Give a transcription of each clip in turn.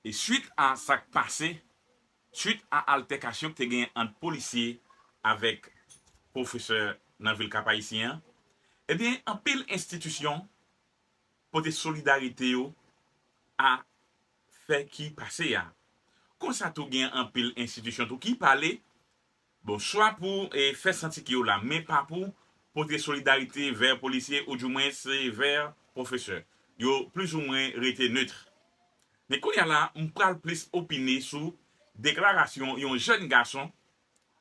E swit a sa k pase, swit a altèkasyon k te genyen ant polisye avèk pwofesè nan vil Kap-Ayisyen an, ebyen anpil enstitisyon pote solidarite yo a fè ki pase a. Konsa tou gen anpil enstitisyon tou ki pale Bon chwa pou fè santi ke yo la men pa pou pote solidarite vè polisye ou du mwens vè pwofesè. Yo plis ou mwen rete neutre. Men kounye a la m pral plis opine sou deklarasyon yon jèn gason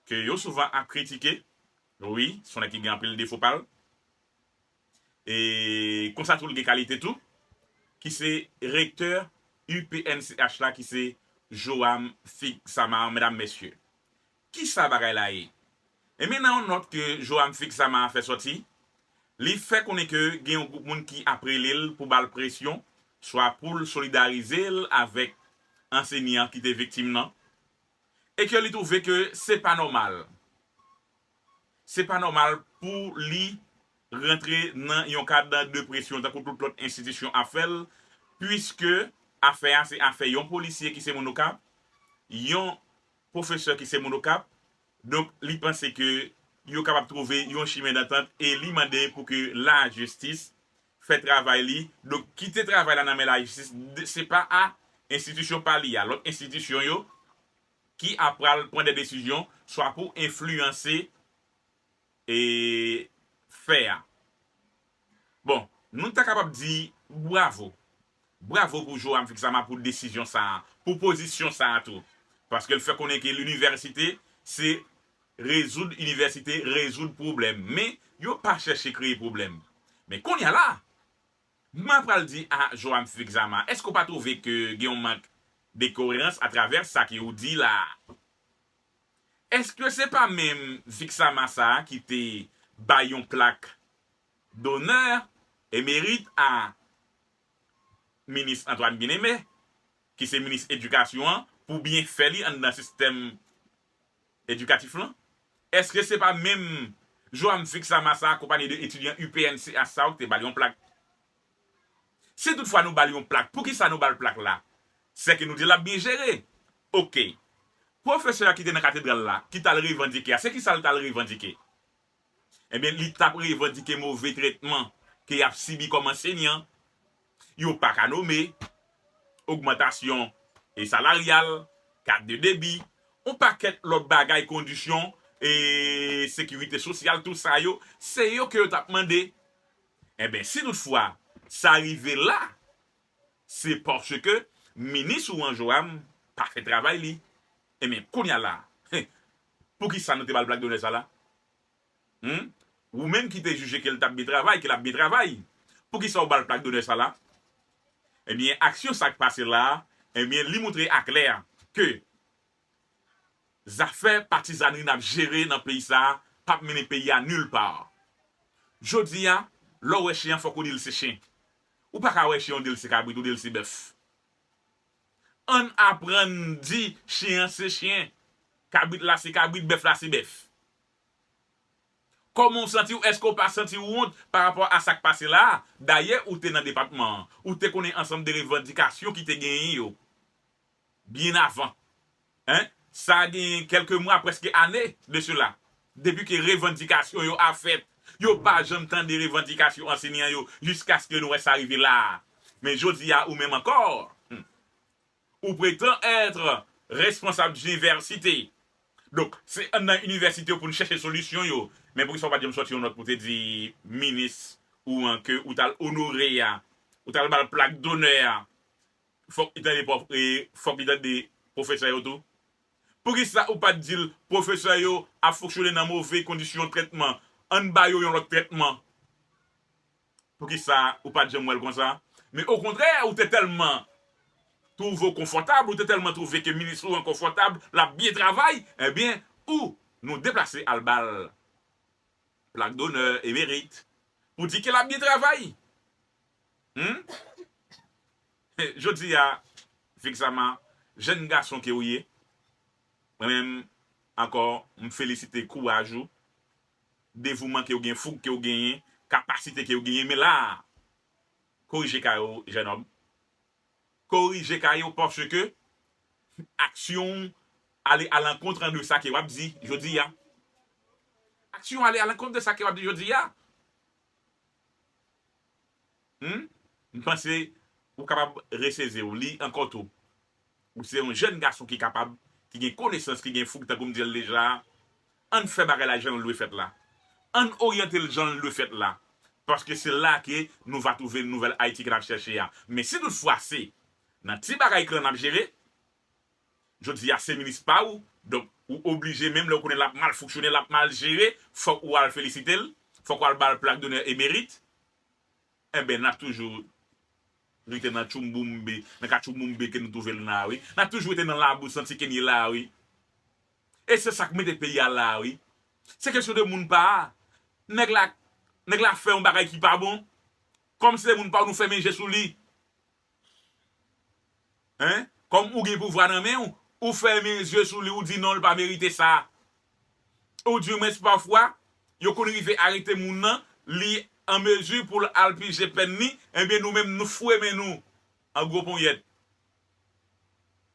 ke yo souvan ap kritike, wi, son nèg ki gen anpil defo pa l. e konsa tou l gen kalite tou, ki se rektè UPNCH la ki se Joam Fig Samar medam mesye. Kisa bagay la ye? Enben nan yon nòt ke Joam Fig Samar fè sòti, li fè konnen ke gen yon gwoup moun ki ap rele l pou ba l presyon swa pou l solidarize l avèk ansenyan ki te viktim nan, e ke li twouve ke se pa nòmal, se pa nòmal pou li rantre nan yon kad de presyon tankou tout lòt enstitisyon ap fè l, puiske afè a se afè yon polisye ki se moun Okap, yon pwofesè ki se moun Okap, donk li panse ke yo kapab twouve yon chimen dantant e li mande pou ke lajistis fè travay li, donk kite travay la nan men lajistis, se pa a enstitisyon pa li a, lòt enstitisyon yo, ki ap pral pran de desizyon, swa pou enfliyanse e fè a. Bon, nou ta kapab di bwavo. Bravo pou Joam Vixama pou desizyon sa a, pou pozisyon sa a tou. Paske l fè konnen ke linivèsite se rezoud inivèsite rezoud pwoblèm men yo pa chèche kreye pwoblèm. Men konnya la a, mwen pral di a Joam Vixama, èske ou pa twouve ke gen yon mank de koerans atravè sa ke ou di la a? Èske se pa menm Vixama sa a ki te bay yon plak Donè emerit a Minis Antoine Bien-Aimé, ki se Minis Edikasyon an, pou byenfè li anndan sistèm edikatif lan? Èske se pa menm Joam Vixama sa akonpanye de etidyan UPN CH sa yo ki te ba l yon plak? Si tout fwa nou ba l yon plak, pou ki sa nou ba l plak la? Sè ke nou di l ap byen jere. Ok. Pwofesè a ki te nan katedral la, ki t al revandike a, se ki sa l t al revandike? Ebyen li tap revandike move tretman ke yap sibi kòm ansenyan, yo pa ka nome, ogmantasyon e salaryal, kat de debi, on pakèt lòt bagay kondisyon e sekirite sosyal tout sa yo se yo ke yo tap mande. Ebyen si tout fwa sa rive la se paske minis ou an Joam pa fè travay li. Ebyen kounya la Poukisa nou te bal black dollars sa la humm wou menm kite jije kel tap byen travay kel ap byen travay poukisa ou bal plak donè sa la ebyen aksyon sak pase la ebyen li moutre aklè ke zafè patizanri nap jere nan peyi sa pap mennen peyi a nul par jodia lèw wè chen an fòk ou dil se chen ou paka wè chen ou dil se kabrit ou dil se bèf. Ann aprann di chyen an se chyen, kabrit la se kabrit, bèf la se bèf. Kòman w santi w? Èske w pa santi w wont pa rapò a sa k pase la a? Dayè, ou te nan depatman an. Ou te konnen ansanm de revandikasyon ki te genyen yo byen avan. Hein? Sa genyen kèlke mwa, prèske ane, de sela, depi ke revandikasyon yo a fèt. Yo pa janm tande revandikasyon ansenyan yo jiskaske nou wè sa rive la a. Men jodi a ou menm ankò, hum, ou pretan ètre responsab djniversite. Donk, se an nan inivèsite yo pou n chèche solisyon yo. Men poukisa ou pa t janm sòti yon nòt pou w te di minis ou an ke ou t al onore a, ou t al ba l plak donè a? fok li tande prof e fok li tande profesè yo tou? Poukisa ou pat dil profesè yo ap fonksyone nan move kondisyon trètman ann ba yo yon lot trètman? Poukisa ou pat janm wèl konsa? Men okontrè ou te telman trouve w konfotab ou te telman trouve ke minis ou an konfotab lap byen travay ebyen ou nou deplase al bal plak donè e merit pou di ke lap byen travay. Humm Jodi a Vixama jèn gason ke ou ye mwen menm ankò m felisite kouraj ou, devouman ke ou gen, foug ke ou genyen, kapasite ke ou genyen men la a korije kay ou jèn òm korije kay ou paske aksyon ou ale alankont de sa ke wap di jodi a aksyon ou ale alankont de sa ke wap di jodi a Humm m panse ou kapab reseze w li ankò tou ou se yon jèn gason ki kapab ki gen konesans ki gen foug tankou m di l deja a ann fè bagay la jan l dwe fèt la ann oryante l jan l dwe fèt la paske se la ke nou va twouve nouvèl Ayiti ke n ap chèche a men si tout fwa se nan ti bagay klan n ap jere Jodi a se minis pa ou, donk ou oblije menm lè ou konnen l ap mal fonksyone, l ap mal jere, fòk ou al felisite l, fòk ou al ba l plak donè e merit. Enben n ap toujou rete nan tchoumboumbe, nan katchouboumbe ke nou twouve n la a wi. N ap toujou rete nan labou santi ke n ye la a wi. E se sa k mete peyi a la a wi. Se kesyon de moun pa a. Nèg la, nèg la fè yon bagay ki pa bon, kòm se moun pa ou nou fèmen je sou li. Hein Kòm ou gen pouvwa nan men ou, ou fèmen zye sou li ou di non li pa merite sa. Ou di mens pafwa yo konn rive arete moun nan, li an mezi pou l al pije pèn li, enben nou menm nou fwe men nou an gwo ponyèt.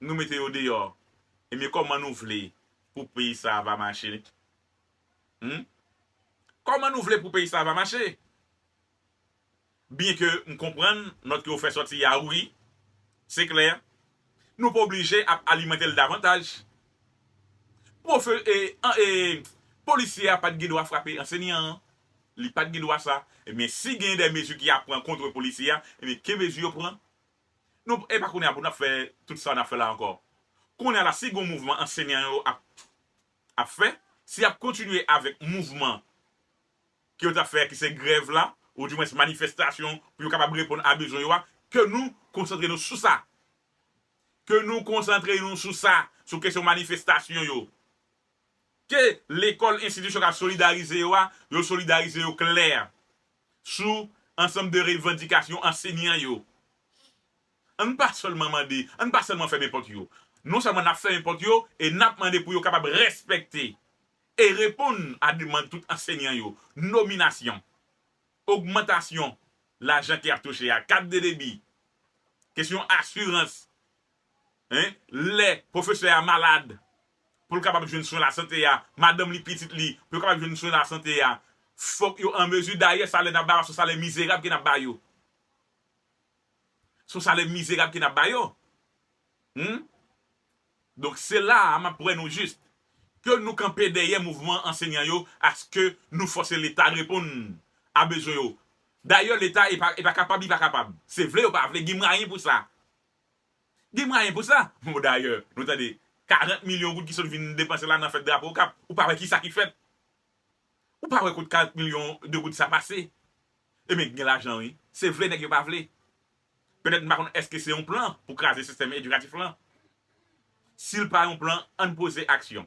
Nou mete yo deyò. Enben kòman nou vle pou peyi sa a va mache? Humm. Kòman nou vle pou peyi sa a va mache? byen ke m konprann nòt ke ou fè sòti a wi, se klè, nou pa oblije ap alimante l davantaj. Pwofe, e, an, e, polisye a pa t gen dwa frape ansenyan an, li pa t gen dwa sa. Ebyen, si gen dè mezi ki a pran kontre polisye a, ebyen, ke mezi yo pran. Nou, e pa kounye a pou n ap fè tout sa n ap fè la ankò. Kounye a la, si gen yon mouvman ansenyan yo ap, ap fè, si y ap kontinye avèk mouvman ke yo tap fè ki se grèv la ou di mwens manifestasyon pou yo kapab reponn a bezwen yo a ke nou konsantre nou sou sa ke nou konsantre nou sou sa sou kesyon manifestasyon yo ke lekòl enstitisyon kap solidarize yo a yo solidarize yo klè sou ansanm de revandikasyon ansenyan yo ann pa sèlman mande ann pa sèlman fèmen pòt yo non sèlman nap fèmen pòt yo e nap mande pou yo kapab rèspèkte e reponn a demand tout ansenyan yo, nominasyon, ogmantasyon lajan ki ap touche a, kat de debi, kesyon asirans, en, lè pwofesè a malad, pou l kapab jwenn swen lasante a, madanm li, pitit li, pou yo kapab jwenn swen lasante a, fòk yo an mezi, dayè salè n ap ba yo a se yon salè mizerab ke n ap ba yo. Son salè mizerab ke nap ba yo humm donk se la a map wè nou jis ke nou kanpe dèyè mouvman ansenyan yo aske nou fòse leta reponn a bezwen yo dayè leta epa epa kapab li pa kapab se vle yo pa vle gen mwayen pou sa gen mwayen pou sa bon dayè nou tande 40 milyon goud ki sot vin depanse la nan fèt drapo okap ou pa wè kisa ki fèt Ou pa wè kot 40 milyon de goud sa pase? Ebyen gen lajan wi. Se vle nèg yo pa vle. Petèt m pa konn èske se yon plan pou kraze sistèm edikatif lan. Si l pa yon plan, ann poze aksyon.